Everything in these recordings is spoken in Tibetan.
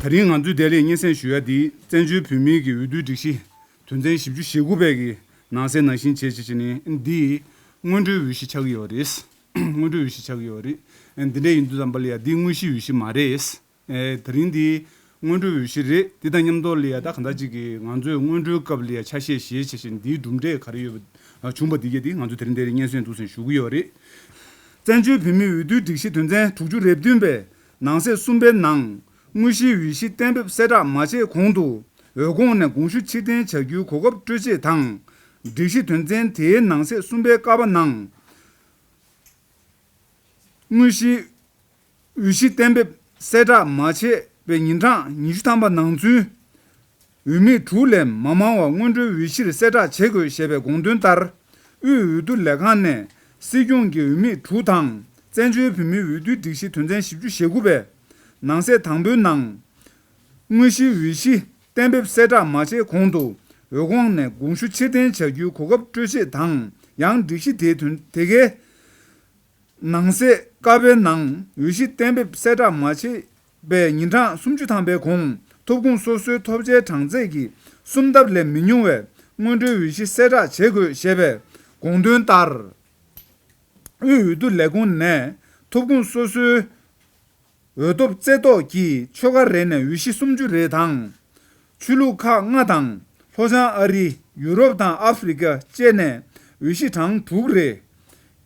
ད་རིང་ང་ཚོས་བདེ་ལེགས་སྙན་སེང་ཞུ་ཡ་འདིས་བཙན་བྱོལ་བོད་མིའི་གི་འོས་བསྡུའི་སྒྲིག་གཞི་དོན་ཚན་བཞི་བཅུ་ཞེ་དགུ་པའི་གི་ནང་གསལ་ནང་བཞིན་བྱེད་ཅེས་བྱས་ནས་འདིས་སྔོན་འགྲོའི་འོས་གཞི་ཆགས་ཀྱི་ཡོད་རེད། སྔོན་འགྲོའི་འོས་གཞི་ཆགས་ཀྱི་ཡོད་རེད། འདི་འདྲས་ཡིན་དུས་ཙམ་པ་ལ་ཡ་འདི་དངོས་གཞིའི་འོས་གཞི་མ་རེད། ད་རིང་འདི་སྔོན་འགྲོའི་འོས་གཞི་རེད་འདི་དང་མཉམ་དུ་ལི་ཡ་ད་ག་ཟླ་གཅིག་གི་ང་ཚོས་སྔོན་འགྲོའི་སྐབས་ལི་ཡ་ཆ་ཤས་ཞེས་བྱ་ཞིང་འདིའི་གྲུབ་འབྲས་ག་རེ་ཡོད་པ་བྱུང་བ་འདི་གས་འདི་ང་ཚོ་དེ་རིང་འདིར་སྙན་སེང་འདུག་སེང་ཞུ་གི་ཡོད་རེད། བཙན་བྱོལ་བོད་མིའི་འོས་བསྡུའི་སྒྲིག་གཞི་དོན་ཚན་དྲུག་ཅུ་རེ་བདུན་པའི་ནང་གསེས་གསུམ་པའི་ནང། དངོས་གཞིའི་འོས་གཞི་གཏན་འབེབས་གསལ་བསྒྲགས་མ་བྱས་གོང་དུ་འོས་ཁོངས་ནས་དགོངས་ཞུ་ཕྱིར་འཐེན་བྱ་རྒྱུའི་གོ་སྐབས་སྤྲོད་ཆེད་དང། སྒྲིག་གཞི་དོན་ཚན་དེའི་ནང་གསེས་གསུམ་པའི་ཀ་བ་ནང། དངོས་གཞིའི། དབུས་གཞི་གཏན་འབེབས་གསལ་བསྒྲགས་མ་བྱས་པའི་ཉིན་གྲངས་ཉི་ཤུ་ཐམ་པ་ནང་ཚུན། འོས་མི་དྲུག་ལས་མ་མང་བ་སྔོན་འགྲོའི་འོས་གཞིར་གསལ་བསྒྲགས་བྱེད་དགོས་ཞེས་པའི་དགོངས་དོན་ལྟར། དབུས་འོས་བསྡུ་ལས་ཁང་ནས་སྲིད་སྐྱོང་གི་འོས་མི་དྲུག་དང་བཙན་བྱོལ་བོད་མིའི་འོས་བསྡུའི་སྒྲིག་གཞི་དོན་ཚན་བཞི་བཅུ་ཞེ་དགུ་པའི་ནང་གསེས་དང་པོའི་ནང། དངོས་གཞིའི་འོས་གཞི་གཏན་འབེབས་གསལ་བསྒྲགས་མ་བྱས་གོང་དུ་འོས་ཁོངས་ནས་དགོངས་ཞུ་ཕྱིར་འཐེན་བྱ་རྒྱུའི་གོ་སྐབས་སྤྲོད་ཆེད་དང་ཡང་སྒྲིག་གཞི་དེ་གའི་ནང་གསེས་ཀ་བའི་ནང་འོས་གཞི་གཏན་འབེབས་གསལ་བསྒྲགས་མ་བྱས་པའི་ཉིན་གྲངས་སུམ་ཅུ་ཐམ་པའི་གོང་ཐོབ་ཁུངས་སོ་སོའི་ཐོབ་ཆའི་གྲངས་ཚད་ཀྱི་སུམ་ལྡབ་ལས་མི་ཉུང་བའི་སྔོན་འགྲོའི་འོས་གཞི་གསལ་བསྒྲགས་བྱེད་དགོས་ཞེས་པའི་དགོངས་དོན་ལྟར། དབུས་འོས་བསྡུ་ལས་ཁུངས་ནས་ཐོབ་ཁུངས་སོ་སོའི། འོད་སྟོབས་རྩེ་བཏོག་གིས་ཆོལ་ཁ་རེ་ནས་འོས་གཞི་སུམ་ཅུ་རེ་དང། ཆོས་ལུགས་ཁག་ལྔ་དང་ལྷོ་བྱང་ཨ་རི། ཡུ་རོབ་དང་ཨ་ཧྥི་རི་ཀ་བཅས་ནས་འོས་གཞི་གྲངས་དྲུག་རེ།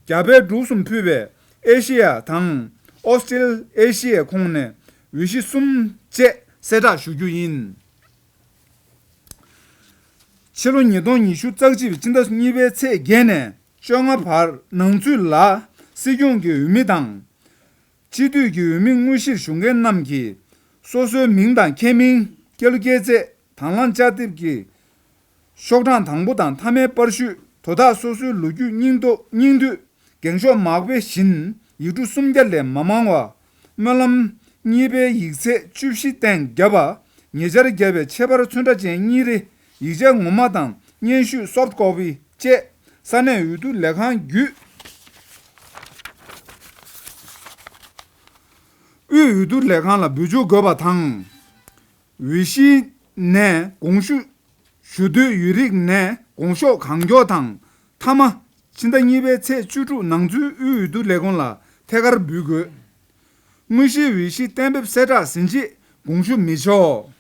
རྒྱ་བལ་འབྲུག་གསུམ་ཕུད་པའི་ཨེ་ཤེ་ཡ་དང་ཨོ་སི་ཀྲེལ་ཨེ་ཤེ་ཡའི་ཁོངས་ནས་འོས་གཞི་གསུམ་བཅས། གསལ་བསྒྲགས་ཞུ་རྒྱུ་ཡིན། ཕྱི་ལོ་ཉིས་སྟོང་ཉི་ཤུ་རྩ་གཅིག་པའི་ཕྱི་ཟླ་གཉིས་པའི་ཚེས་བརྒྱད་ནས་བཅོ་ལྔ་བར་ནང་ཚུད་ལ་སྲིད་སྐྱོང་གི་འོས་མི་དང། སྤྱི་འཐུས་ཀྱི་འོས་མི་དངོས་གཞིར་ཞུགས་མཁན་རྣམས་ཀྱིས། སོ་སོའི་མིང་དང་ཁྱད་མིང། སྐྱེས་ལོ་སྐྱེས་ཚེས་དང་བླངས་བཅའ་དེབ་ཀྱི། ཤོག་གྲངས་དང་པོ་དང་མཐའ་མའི་དཔར་བཤུས་དོ་དག་སོ་སོའི་ལོ་རྒྱུས་སྙིང་བསྡུས། འགེངས་ཤོག་མ་དཔེ་བཞིན་ཡིག་འབྲུ་སུམ་བརྒྱ་ལས་མ་མང་བ། སྨོན་ལམ། གཉིས་པའི་ཡིག་ཚད་བཅུ་བཞི་སྟེང་བརྒྱ་པ། ཉེ་ཆར་བརྒྱབ་པའི་ཆད་པར་ཚོན་ཁྲ་ཅན་གཉིས་རེ། ཡིག་ཆ་ངོ་མ་དང་སྙན་ཞུ Soft Copy བཅས་ས་གནས་འོས་བསྡུ་ལས་ཁང་བརྒྱུད། དབུས་འོས་བསྡུ་ལས་ཁང་ལ་འབུལ་འཇུག་དགོས་པ་དང། འོས་གཞིའི་ནས་དགོངས་ཞུ་ཞུ་འདོད་ཡོད་རིགས་ནས་དགོངས་ཤོག་གང་མགྱོགས་དང་མཐའ་མ། ཕྱི་ཟླ་གཉིས་པའི་ཚེས་བཅུ་དྲུག་ནང་ཚུད་དབུས་འོས་བསྡུ་ལས་ཁུངས་ལ་ཐད་ཀར་འབུལ་དགོས། དངོས་གཞིའི་འོས་གཞི་གཏན་འབེབས་གསལ་བསྒྲགས་ཟིན་རྗེས་དགོངས་ཞུ་མི་ཆོག།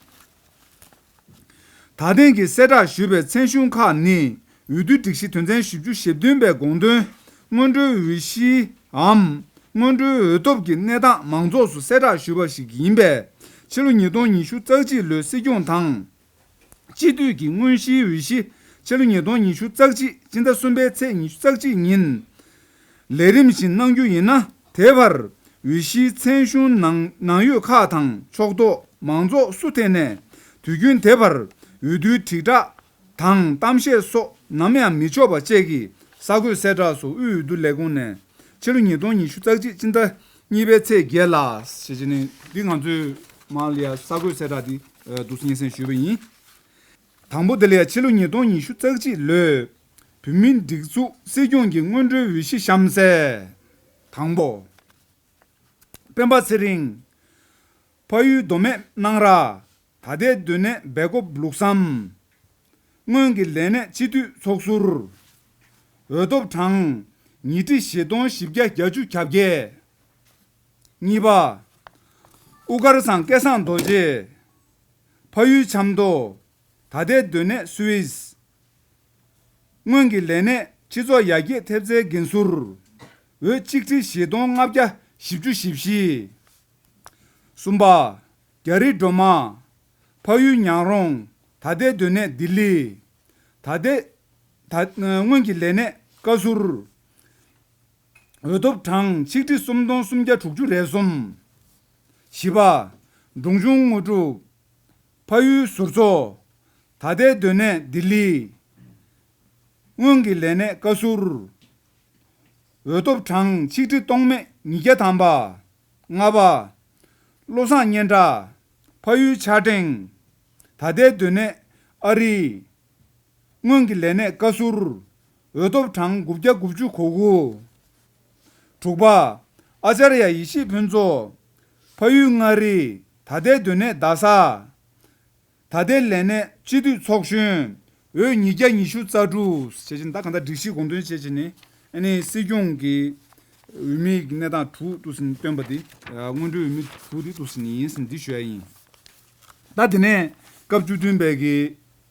ད་ཐེངས་ཀྱི་གསལ་བསྒྲགས་ཞུས་པའི་ཚན་གཞུང་ཁག་ནི་འོས་བསྡུའི་སྒྲིག་གཞི་དོན་ཚན་བཞི་བཅུ་ཞེ་བདུན་པའི་དགོངས་དོན། སྔོན་འགྲོའི་འོས་གཞིའམ་སྔོན་འགྲོའི་འོས་ཐོབ་ཀྱི་གནས་སྟངས་མང་ཚོགས་སུ་གསལ་བསྒྲགས་ཞུས་པ་ཞིག་ཡིན་པས། ཕྱི་ལོ་ཉིས་སྟོང་ཉི་ཤུ་རྩ་གཅིག་ལོའི་སྲིད་སྐྱོང་དང། སྤྱི་འཐུས་ཀྱི་དངོས་གཞིའི་འོས་གཞི་ཕྱི་ལོ་ཉིས་སྟོང་ཉི་ཤུ་རྩ་གཅིག་སྤྱི་ཟླ་གསུམ་པའི་ཚེས་ཉི་ཤུ་རྩ་གཅིག་ཉིན་ལས་རིམ་བཞིན་གནང་རྒྱུ་ཡིན་ན། དེ་བར་འོས་གཞིའི་མཚན་གཞུང་ནང་ནང་ཡོད་ཁག་དང་ཕྱོགས་གཏོགས་མང་ཚོགས་སུ་ཐད་ནས་དུས་རྒྱུན་དེ་བར་འོས་བསྡུའི་དྲིལ་བསྒྲགས་དང་གཏམ་བཤད་སོགས་ནམ་ཡང་མི་ཆོག་པ་བཅས་ཀྱི་གསར་འགོད་གསལ་བསྒྲགས་སུ་དབུས་འོས་བསྡུ་ལས་ཁུངས་ནས་ཕྱི་ལོ་ཉིས་སྟོང་ཉི་ཤུ་རྩ་གཅིག་སྤྱི་ཟླ་གཉིས་པའི་ཚེས་བརྒྱད་ལ། འདི་ང་ཚོས་མང་ལ་ཡ་གསར་འགོད་གསལ་བསྒྲགས་འདི་སྡུག་སྙན་སེང་ཞུས་པ་ཡིན། དང་པོ་དེ་ལ་ཡང་ཕྱི་ལོ་ཉིས་སྟོང་ཉི་ཤུ་རྩ་གཅིག་ལོའི་བོད་མིའི་སྒྲིག་འཛུགས་སྲིད་སྐྱོང་གི་སྔོན་འགྲོའི་འོས་གཞི་གཤམ་གསལ། དང་པོ། སྤེན་པ་ཚེ་རིང། ཕ་ཡུལ་མདོ་སྨད་སྣང་ར། ད་ལྟའི་སྡོད་གནས་སྦེལ་ཀོབ་ལུགས་བསམ། སྔོན་གྱི་ལས་གནས་སྤྱི་འཐུས་ཚོགས་ཟུར། འོས་ཐོབ་གྲངས། ཉིས་ཁྲི་བཞི་སྟོང་བཞི་བརྒྱ་གྱ་བཅུ་གྱ་བརྒྱད། གཉིས་པ། དབུ་དཀར་ཟངས་སྐལ་བཟང་རྡོ་རྗེ། ཕ་ཡུལ་ཆབ་མདོ། ད་ལྟའི་སྡོད་གནས Swiss། སྔོན་གྱི་ལས་གནས་སྤྱི་ཚོགས་ཡར་རྒྱས་ཐེབས་རྩའི་འགན་ཟུར། འོས་གཅིག་ཁྲི་བཞི་སྟོང་ལྔ་བརྒྱ་བཞི་བཅུ་བཞི་བཞི། གསུམ་པ། རྒྱ་རི་སྒྲོལ་མ། ཕ་ཡུལ་ཉག་རོང། ད་ལྟའི་སྡོད་གནས་ལྡི་ལི། ད་ལྟའི། སྔོན་གྱི་ལས་གནས་བཀའ་ཟུར། འོས་ཐོབ་གྲངས་ཆིག་ཁྲི་སུམ་སྟོང་སུམ་བརྒྱ་དྲུག་ཅུ་རེ་གསུམ། བཞི་པ། སྒྲུང་གཞུང་དངོས་གྲུབ། ཕ་ཡུལ་ཟུར་ཚོ། ད་ལྟའི་སྡོད་གནས་ལྡི་ལི། སྔོན་གྱི་ལས་གནས་བཀའ་ཟུར། འོས་ཐོབ་གྲངས་ཆིག་ཁྲི་སྟོང་མེད་ཉིས་བརྒྱ་དམ་པ། ལྔ་པ། བློ་བཟང་སྙན་གྲགས། ཕ་ཡུལ་ཕྱག་སྦྲེང། ད་ལྟའི་སྡོད་གནས་ཨ་རི། སྔོན་གྱི་ལས་གནས་བཀའ་ཟུར། འོས་ཐོབ་གྲངས་དགུ་བརྒྱ་དགུ་བཅུ་གོ་དགུ། དྲུག་པ། ཨཅཱརྱ་ཡེ་ཤེས་ཕུན་ཚོགས། ཕ་ཡུལ་མངའ་རིས་ད་ལྟའི་སྡོད་གནས་རྡ་ས། ད་ལྟའི་ལས་གནས་སྤྱི་མཐུས་ཚོགས་གཞོན། འོས་ཉིས་བརྒྱ་ཉི་ཤུ་རྩ་དྲུག། བྱས་ཀྱི་ནི་ད་གང་ལྟར་སྒྲིག་གཞི་དགོངས་དོན་བྱས་ཀྱི་ནི་ནི་སྲིད་སྐྱོང་གི་འོས་མི་གནས་སྟངས་དྲུག་བཏུགས་ཟིན་བཏོན་པ་དེ་སྔོན་འགྲོའི་འོས་མི་དྲུག་དེ་བཏུགས་ཟིན་ཡིན་ཟིན་འདི་ཞུ་ཡ་ཡིན། ད་དེ་ནས་སྐབས་བཅུ་བདུན་པའི་གི།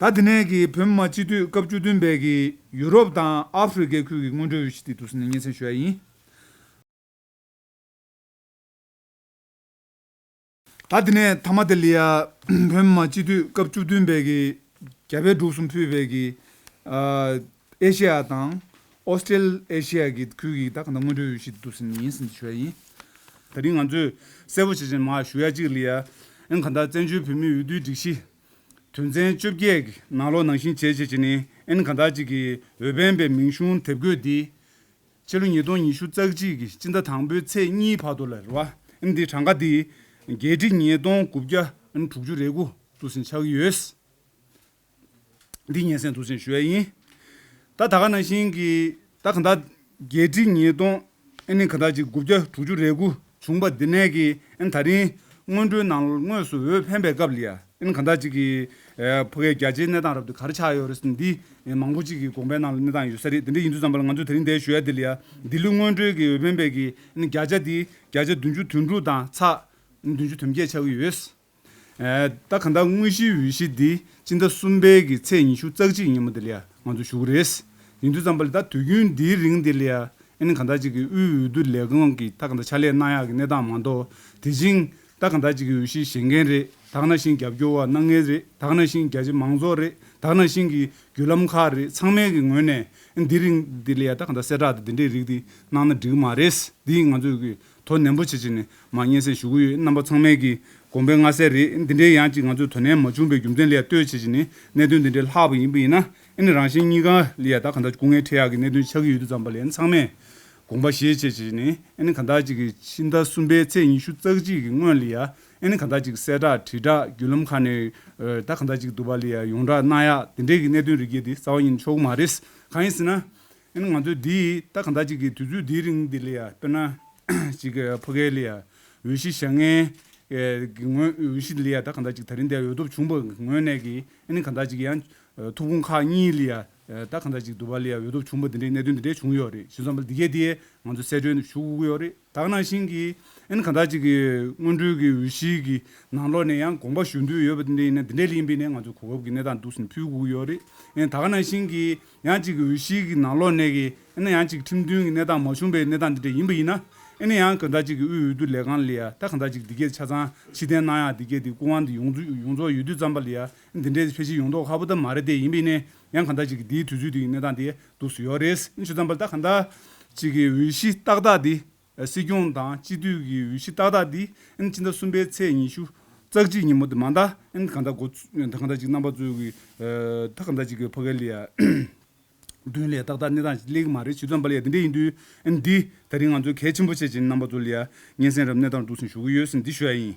ད་དེ་ནས་ཀྱི་བོད་མི་མང་སྤྱི་འཐུས་སྐབས་བཅུ་བདུན་པས་ཀྱི་ཡུ་རོབ་དང་ཨ་ཧྥི་རི་ཀའི་ཁུལ་གྱི་སྔོན་འགྲོའི་འོས་གཞི་དེ་དུས་ཟིང་ནས་སྙན་སེང་ཞུ་ཡ་ཡིན། ད་དེ་ནས་ཐ་མ་དེ་ལི་ཡ་བོད་མི་མང་སྤྱི་འཐུས་སྐབས་བཅུ་བདུན་པས་ཀྱི་རྒྱ་བལ་འབྲུག་གསུམ་ཕུད་པས་ཀྱི། ཨེ་ཤེ་ཡ་དང། ཨོས་ཏྲེ་ཨེ་ཤེ་ཡ་གི་ཁུལ་གྱི་ད་ག་ནང་སྔོན་འགྲོའི་ཡུལ་ཞིག་ཏུ་ཟིན་ཡིན་ཟིན་དུ་བྱས་ཡིན། ད་རིང་ང་ཚོས་གསལ་བོ་བྱེད་བཞིན་མ་ཞུ་ཡ་ཅིག་ལི་ཡ་ཨེན་གྷ་འདར་བཙན་བྱོལ་བོད་མིའི་འོས་བསྡུའི་སྒྲིག་གཞི། དོན་ཚན་བཅོ་བརྒྱད་གི་ནང་ལོ་ནང་བཞིན་བྱེད་ཅེས་བྱས་ནས་ཨེན་གྷ་འདར་གཅིག་གི་འོས་འཕེན་པའི་མིང་གཞུང་དེབ་འགོད་དེ། ཕྱི་ལོ་ཉིས་སྟོང་ཉི་ཤུ་རྩ་གཅིག་གི་སྤྱི་ཟླ་དང་པོའི་ཚེས་གཉིས་བར་དུ་ལར་བ་ཨེན་དེ་གྲངས་ཀ་དེ་རྒྱལ་སྤྱི་ཉིས་སྟོང་དགུ་བརྒྱ་ཨེན་དྲུག་ཅུ་རེ་དགུ་ཏུ་ཟིན་ཆགས་ཀྱི་ཡོད། འདི་སྙན་སེང་དུ་ཟིན་ཞུ་ཡས་ཡིན། ད་ད་ག་ནང་བཞིན་གྱི་ད་ག་འདའ། བརྒྱད་ཁྲི་ཉིས་སྟོང་ཨེ་ནི་ག་འདའ་གཅིག་དགུ་བརྒྱ་དྲུག་ཅུ་རེ་དགུ་བྱུང་པ་འདི་ནས་གི་ཨེ་ནི་ད་རིང་སྔོན་འགྲོའི་ནང་དངོས་སུ་འོས་འཕེན་པའི་སྐབས་ལི་ཡ་ཨེ་ནི་ག་འདའ་གཅིག་གི་ཕོ་ཁའི་རྒྱ་ཆེའི་གནས་སྟངས་རབ་ཏུ་ག་རེ་ཆགས་ཡོད་རེད་ཟེར་འདི་མང་པོ་གཅིག་གི་དགོངས་པའི་ནང་ལ་གནས་སྟངས་ཡོད་ས་རེད་འདི་འདྲ་ཡིན་དུས་ཙམ་པ་ལ་ང་ཚོས་དེ་རིང་འདའི་ཞུ་ཡས་འདི་ལི་ཡ་འདི་ལོའི་སྔོན་འགྲོའི་གི་འོས་འཕེན་པའི་གི་ཨེ་ནི་བརྒྱ་ཆ་འདི་བརྒྱ་ཆ་བདུན་ཅུ་དོན་དྲུག་དང་ཚགས་བདུན་ཅུ་དོན་བརྒྱད་ཆགས་ཀྱི་ཡོད། ད་ག་འདའ་དངོས་གཞིའི་འོས་གཞི་འདི་སྤྱི་ཟླ་གསུམ་པའི་གི་ཚེས་ཉི་ཤུ་རྩ་གཅིག་ཉིན་མོ་དེ་ལ་ང་ཚོ་ཞུགས་རེས་ཡིན་དུས་ཙམ་པ་ལ་ད་དུས་རྒྱུན་འདིའི་རིང་དེ་ལ་ཨིན་ག་འདའ་གཅིག་གི་དབུས་འོས་བསྡུ་ལས་ཁང་གིས་ད་ག་འདའ་ཕྱག་ལས་གནང་ཡག་གི་གནས་སྟངས་མ་འདོག་དེ་བཞིན་ད་ག་འདའ་གཅིག་གི་འོས་གཞི་བཞེས་མཁན་རེད་དག་ན་བཞིན་རྒྱབ་སྐྱོར་བ་སྣ་ལྔས་རེད་དག་ན་བཞིན་རྒྱ་ཆེ་མང་ཚོགས་རེད་དག་ན་བཞིན་གི་བརྒྱུད་ལམ་ཁག་རེད་ཚང་མའི་གི་ངོས་ནས་ཨིན་འདི་རིང་དེ་ལ་ད་ག་འདའ་གསལ་བསྒྲགས་དེ་འདི་འདྲའི་རིགས་དེ་གནང་ན་འགྲིག་གི་མ་རེད་འདི་ང་ཚོས་གི་དོ་ནན་པོ་བྱེད་ཆེད་ནས་མ་སྙན་སེང་ཞུ་གི་ཡོད་རྣམ་པ་ཚང་མས་ཀྱིས་དགོངས་པའི་མངའ་གསལ་རེད་འདི་འདྲའི་ཡང་ཅིག་ང་ཚོས་དོ་ནན་མ་བྱུང་པའི་རྒྱུ་མཚན་ལས་ལྟོས་བྱེད་ཆེད་ནས་གནད་དོན་འདི་འདྲའི་ལྷག་པ་ཡིན་པ་ཡིན་ན་ནི་རང་བཞིན་གཉིས་ཀ་ལས་ཡང་དག་གང་དག་སྐུ་ངལ་འཕྲད་ཡག་གི་གནད་དོན་ཆགས་ཀྱི་ཡོད་དུས་ཙམ་པ་ལས་ཚང་མས་དགོངས་པ་བཞེས་བྱེད་ཆེད་ནས་ནི་གང་དག་ཅིག་གིས་ཕྱི་ཟླ་གསུམ་པའི་ཚེས་ཉི་ཤུ་རྩ་གཅིག་གི་སྔོན་ལ་ཡང་ནི་གང་དག་ཅིག་གསལ་བསྒྲགས་དྲིལ་བསྒྲགས་བརྒྱུད་ལམ་ཁག་ནས་ཡང་དག་གང་དག་ཅིག་བསྡུ་བ་ལས་ཡང་ཡོངས་གྲགས་གནང་ཡག་དེ་འདྲའི་གི་གནད་དོན་རིགས་བརྒྱད་འདི་རྩ་བ་ཉིད་ནས་ཆོག་གི་མ་རེད་གང་ཡིན་ཟེར་ན་ཡིན་ང་ཚོས་འདི་ད་གང་དག་ཅིག་གིས་དུས་ཚོད་འདིའི་རིང་འདི་ལ་ཡ་དཔེར་ན། ཅིག་ཕོ་གས་ལི་ཡ་འོས་གཞི་བཞག་ངེས། གི་ངོས་འོས་གཞི་ལི་ཡ་ད་གང་དག་ཅིག་ད་རིང་འདི་འོས་ཐོབ་བྱུང་བ་ངོས་ནས་ཀྱི་ཨིན་གང་དག་ཅིག་གི་ཡང་ཐུགས་ཕུང་ཁག་གཉིས་ལི་ཡ་ད་གང་དག་ཅིག་དུ་བ་ལི་ཡ་འོས་ཐོབ་བྱུང་བ་འདི་འདྲའི་གནད་དོན་འདི་འདྲའི་བྱུང་ཡོད་རེད་བཞི་མཚམས་པ་འདི་གས་དེ་ང་ཚོ་གསལ་སྒྲོན་ཞུ་དགོས་ཀྱི་ཡོད་རེད། དག་ནང་བཞིན་གྱི། ཨན་གང་དག་ཅིག་གིས་སྔོན་འགྲོའི་གི་འོས་གཞིའི་གི་ནང་ལོགས་ནས་ཡང་དགོངས་པ་ཞུ་འདོད་ཡོད་པ་དེ་འདྲ་ཡིན་ན་དེ་འདྲའི་ལས་ཡིན་པས་ནས་ང་ཚོ་གོ་སྐབས་ཀྱི་གནས་སྟངས་འདུག་ཟིན་ཕུལ་དགོས་ཀྱི་ཡོད་རེད། ཨན་དག་ནང་བཞིན་གྱི། ཡང་ཅིག་གི་འོས་གཞིའི་གི་ནང་ལོགས་ནས་གི་ཨན་ཡང་ཅིག་ཁྲིམས་མཐུན་གི་གནས་སྟངས་མ་བྱུང་པའི་གནས་སྟངས་དེ་འདྲ་ཡིན་པ་ཡིན་ན། ཨན་ཡང་གང་དག་ཅིག་གི་དབུས་འོས་བསྡུ་ལས་ཁང་ལ་ཡང་ད་གང་དག་ཅིག་འདི་སྐད་ཆ་ཚང་ཕྱིར་འཐེན་གནང་ཡང་འདི་སྐད་དེ་སྐུ་དབང་འདི་ཡོངས་རྫོགས་ཡོད་དུས་ཙམ་པ་ལ་ཡང་ཨན་འདི་འདྲའི་ཕལ་ཆེར་ཡོང་དོགས་ཁག་པོ་ད་མ་རེད་དེ་ཡིན་པས་ནས་ཡང་གང་ཟག་གཅིག་གིས་འདིའི་དུས་ཚོད་དེ་ཡི་གནས་སྟངས་དེ་སྡུག་སུ་ཡོད་རེད། ཆུ་ཚང་པར་ད་གང་ཟག་གཅིག་གི་འོས་གཞི་ཏག་ཏག་འདི། སྲིད་སྐྱོང་དང་སྤྱི་འཐུས་ཀྱི་འོས་གཞི་ཏག་ཏག་འདི། ཕྱི་ཟླ་གསུམ་པའི་ཚེས་ཉི་ཤུ། ཙག་གཅིག་ཉིན་མོ་དེ་མ་ད། གང་ཟག་ད་གང་ཟག་གཅིག་རྣམ་པ་གཙོས་ཀྱི། ད་གང་ཟག་གཅིག་གི་ཕ་གའི་ལས། དོན་ལས་ཏག་ཏག་གནས་སྟངས་གླེགས་མ་རེད་ཆུ་ཚང་པར་ལས་དེ་འདྲས་ཡིན་དུས། འདི། ད་རིང་ང་ཚོས་གལ་ཆེན་པོ་བྱེད་ཀྱི་རྣམ་པ་གཙོ་ལས། སྙན་སེང་རབ་གནས་སྟངས་སྡུག་སུ་ཞུགས་ཀྱི་ཡོད་སེམས་འདི་ཞུ་ཡ་ཡིན།